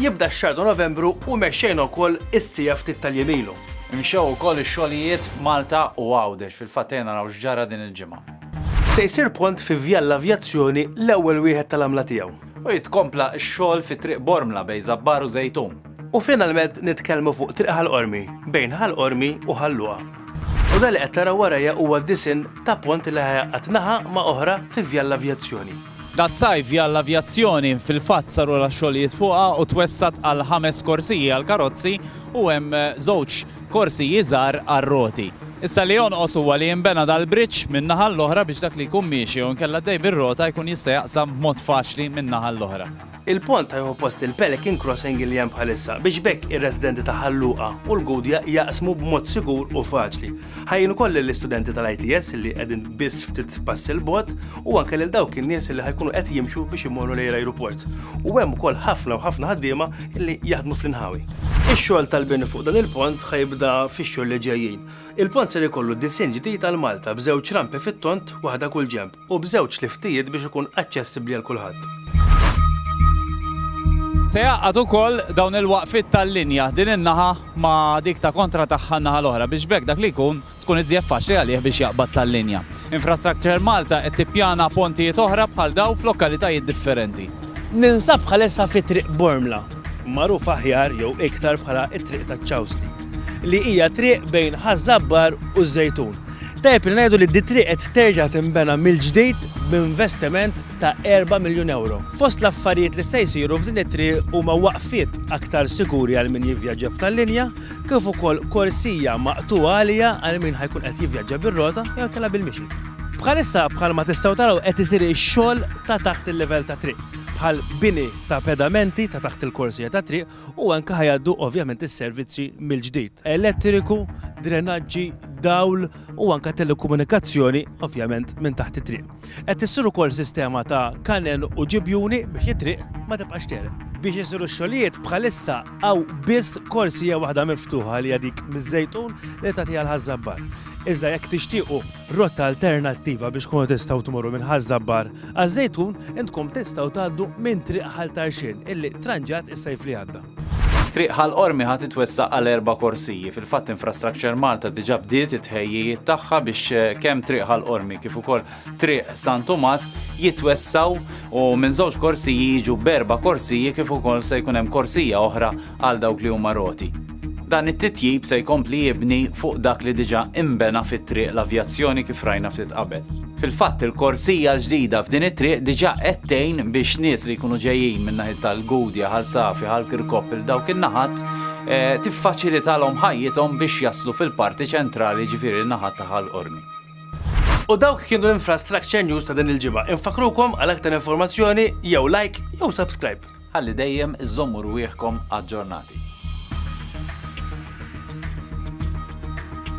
Jibda x-xahar ta' Novembru u mexxejna wkoll is-sija ftit tal-jemilu. Imxew ukoll ix-xogħlijiet f'Malta u Għawdex, fil-fatt ejja naraw x'ġara din il-ġimgħa. Se jsir pont fi Vjal l-Avjazzjoni l-ewwel wieħed tal-għamla tiegħu. U jitkompla x-xogħol fi Triq Bormla bejn Żabbar u Żejtun. U finalment nitkellmu fuq Triq Ħal Qormi bejn Ħal Qormi u Ħal Luqa. U dan li qed taraw warajja huwa disinn ta' pont li ħa jgħaqqad naħa ma' oħra fi Vjal l-Avjazzjoni. Das-sajf Jalla-Avjazzjoni fil-fatt sarulha x-xogħlijiet fuqha u twessgħet għal ħames korsiji għall-karozzi u hemm żewġ korsiji żgħar għar-roti. Issa li jonqos huwa li jinbena dal-bridge min-naħa l-oħra biex dak li jkun miexi jew inkella għaddej bir-rota jkun jista' jaqsam b'mod faċli min-naħa l-oħra. Il-pont ħa jieħu post il-Pelican Crossing li hemm bħalissa biex b'hekk ir-residenti ta' Ħal Luqa u l-Gudja jaqsmu b'mod sigur u faċli. Ħa jgħin ukoll lill-istudenti tal-ITS li qegħdin biss ftit passi 'l bogħod u anke lil dawk in-nies li ħa jkunu qed jimxu biex imorru lejn l-ajruport. U hemm ukoll ħafna u ħafna ħaddiema li jaħdmu fl-inħawi. Ix-xogħol tal-bini fuq dan il-pont ħa jibda fix-xhur li ġejjin. Il-pont ser ikollu disinn ġdid għal Malta b'żewġ rampi fit-tond, waħda kull ġenb. u b'żewġ liftijiet biex ikun aċċessibbli għal kulħadd. Se jgħaqqad ukoll dawn il-waqfiet tal-linja din in-naħa ma' dik ta' kontra tagħha n-naħa l-oħra biex b'hekk dak li jkun tkun iżjed faċli għalih biex jaqbad tal-linja. Infrastructure Malta qed tippjana pontijiet oħra bħal dawn f'lokalitajiet differenti. Ninsab bħalissa fi Triq Bormla, magħrufa aħjar jew iktar bħala t-Triq taċ-Ċawsli, li hija triq bejn Ħaż-Żabbar u ż-Żejtun. Tajjeb li ngħidu li d-triq qed terġa' tinbena mill-ġdid b'investiment ta' erba' miljun ewro. Fost l-affarijiet li se jsiru f'din it-triq huma waqfiet aktar sikuri għal min jivvjaġġa b'tal-linja kif ukoll korsija maqtugħa għaliha għal min ħa jkun qed jivvjaġġa bir-rota jew inkella bil-mixi. Bħalissa bħalma tistgħu taraw qed isir ix-xogħol ta' taħt il-livell tat-triq, bħal bini ta' pedamenti ta' taħt il-korsija tat-triq u anke ħa jgħaddu ovvjament is-servizzi mill-ġdid, elettriku, drenaġġi, dawl u anke telekomunikazzjoni ovvjament minn taħt it-triq. Qed issir ukoll sistema ta' kanel u ġibjuni biex it-triq ma tibqax tegħreq. Biex isiru x-xogħlijiet bħalissa hawn biss korsija waħda miftuħa li hija dik miż-Żejtun li tagħti għal Ħaż-Żabbar. Iżda jekk tixtiequ rotta alternattiva biex tkunu tistgħu tmorru minn Ħaż-Żabbar għaż-Żejtun, intkom tistgħu tgħaddu minn Triq Ħal Tarxien illi tranġat is-sajf li għadda. Triq Ħal Qormi ħa titwessaq għal erba' korsiji. Fil-fatt Infrastructure Malta diġà bdiet it-tħejjijiet tagħha biex kemm Triq Ħal Qormi kif ukoll Triq San Tumas jitwessgħu u minn żewġ korsiji jiġu b'erba' korsiji kif ukoll se jkun hemm korsija oħra għal dawk li huma roti. Dan it-titjib se jkompli jibni fuq dak li diġà inbena fi Triq l-Avjazzjoni kif rajna ftit qabel. Fil-fatt il-korsija l-ġdida f'din it-triq diġà qed tgħin biex nies li jkunu ġejjin minn naħiet tal-Gudja, Ħal Safi, Ħal Kirkop il dawk in-naħat tiffaċilitalhom ħajjithom biex jaslu fil-parti ċentrali jiġifieri n-naħat ta' Ħal Qormi. U dawk kienu l-infrastructure news ta' din il-ġimgħa. Infakrukom għal aktar informazzjoni jew like jew subscribe. Ħalli dejjem iżżommu rwieħkom aġġornati.